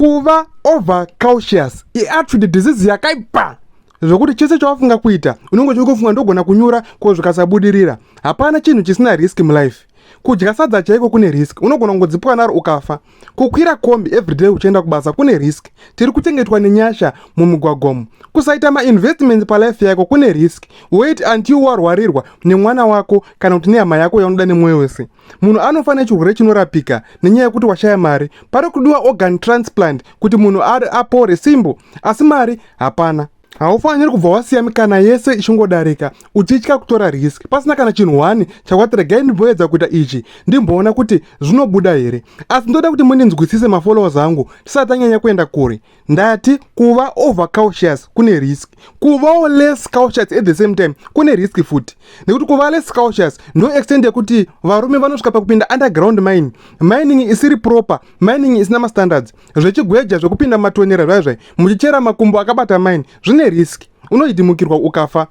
kuva over cautious iatrid disease yakaipa zvokuti chese chawafunga kuita unenge uchiri kufunga ndogona kunyura ko zvikasabudirira hapana chinhu chisina risk mulife kudya sadza chaiko kune risk unogona kungodzipwa naro ukafa kukwira kombi everyday uchienda kubasa kune risk tiri kuchengetwa nenyasha mumigwagomo kusaita mainvestment palife yako kune risk wait until warwarirwa nemwana wako kana kuti nehama yako yaunoda nemwoyo wese munhu anofa nechirwere chinorapika nenyaya yekuti washaya mari pari kudiwa organ transplant kuti munhu ari apore simbo asi mari hapana haufaniri kubva wasiya mikana yese ichingodarika uchitya kutora risk pasina kana chinhu one chakwati regai ndimboedza kuita ichi ndimboona kuti zvinobuda here asi ndoda kuti mundinzwisise mafollowers angu tisati anyanya kuenda kure ndati kuva over cautious kune risk kuvawo less cautious at the same time kune risk futi nekuti kuva less cautious ndo extend yekuti varume vanosvika pakupinda underground mining mining isiri proper mining isina mastandards zvechigweja zvekupinda matonera zvaya zvai muchichera makumbo akabata mine zvine risk unoitimukirwa ukafa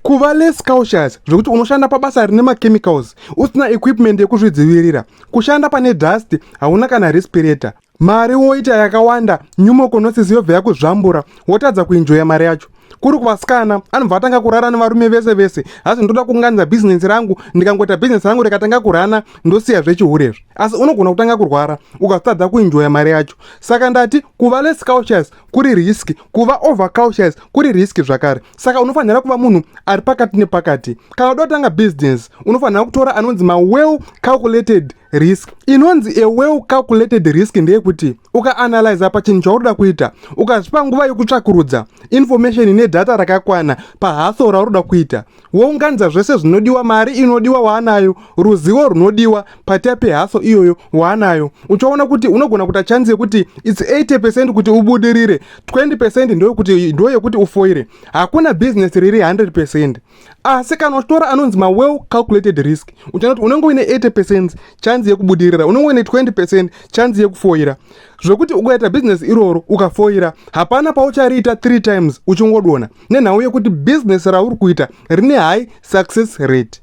kuva less cautious zvekuti unoshanda pabasa rine machemicals usina equipment yekuzvidzivirira kushanda pane dust hauna kana respirator mari woita yakawanda nyumokonosis yobva yakuzvambura wotadza kuinjoya mari yacho kuri kuvasikana anobva atanga kurara nevarume vese vese hazi ndoda kuunganidza bhizinesi rangu ndikangoita bhizinesi rangu rikatanga kurana ndosiya zvechihurizvi asi unogona kutanga kurwara ukazotadza kuinjoya mari yacho saka ndati kuva less cautious kuri risk kuva over cautious kuri risk zvakare saka unofanira kuva munhu ari pakati nepakati kana uda kutanga bhizinesi unofanira kutora anonzi mawell calculated risk inonzi a well calculated risk ndeyekuti ukaanalyza pachinhu chauroda kuita ukazvipa nguva yokutsvakurudza information ine data rakakwana pahaso rauroda kuita wounganidza zvese zvinodiwa mari inodiwa waanayo ruzivo runodiwa patia pehaso iyoyo waanayo uchaona kuti unogona kuita chanzi yekuti its 80 percent kuti ubudirire 20 percent ndoyekuti ndoyekuti ufoire hakuna business riri 100 percent asi kana uchitora anonzi mawell calculated risk uchanoti unenge uine 80 percent chanzi yekubudirira unenge uine 20 percent chanzi yekufoira zvekuti ukaita bhizinesi iroro ukafoira hapana pauchariita 3 times uchingodona nenhau yekuti bhizinesi rauri kuita rine high success rate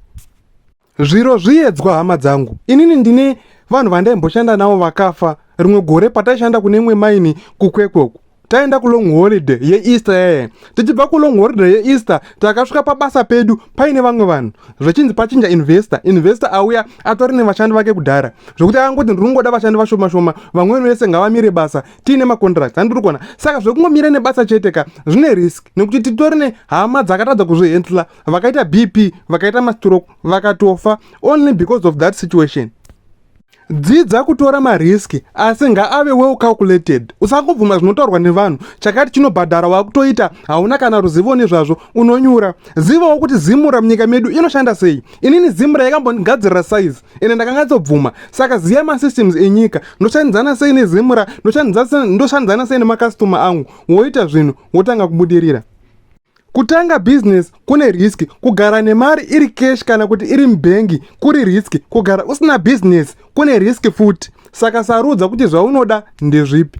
zviro zviyedzwa hama dzangu inini ndine vanhu vandaimboshanda navo vakafa rimwe gore pataishanda kune imwe maini kukwekwe uku taenda kulong holiday yeeaster yaya tichibva kulong holiday yeeaster takasvika pabasa pedu paine vamwe vanhu zvechinzi pachinja investor investor auya atori nevashandi vake kudhara zvekuti akangoti ndiri kungoda vashandi vashoma shoma vamweni vese ngavamire basa tiine macontract andiri kuona saka zvekungomira nebasa chete ka zvine risk nekuti titori nehama dzakatadza kuzvihendla vakaita bp vakaita mastroke vakatofa only because of that situation dzidza kutora marisk asi ngaave well calculated usangobvuma zvinotaurwa nevanhu chakati chinobhadhara wakutoita hauna kana ruzivo nezvazvo unonyura zivawo kuti zimura munyika medu inoshanda sei inini zimura yakambondigadzirira size ende ndakanyatsobvuma saka ziya masystems enyika ndoshandidzana sei nezimura ndoshandidzana sei nemakastoma angu woita zvinhu wotanga kubudirira Kutanga business kune risk, kugara nemari iri cash kana kuti iri mubhengi kuri risk, kugara usina business kune risk futi. Saka sarudza kuti zvaunoda ndezvipi.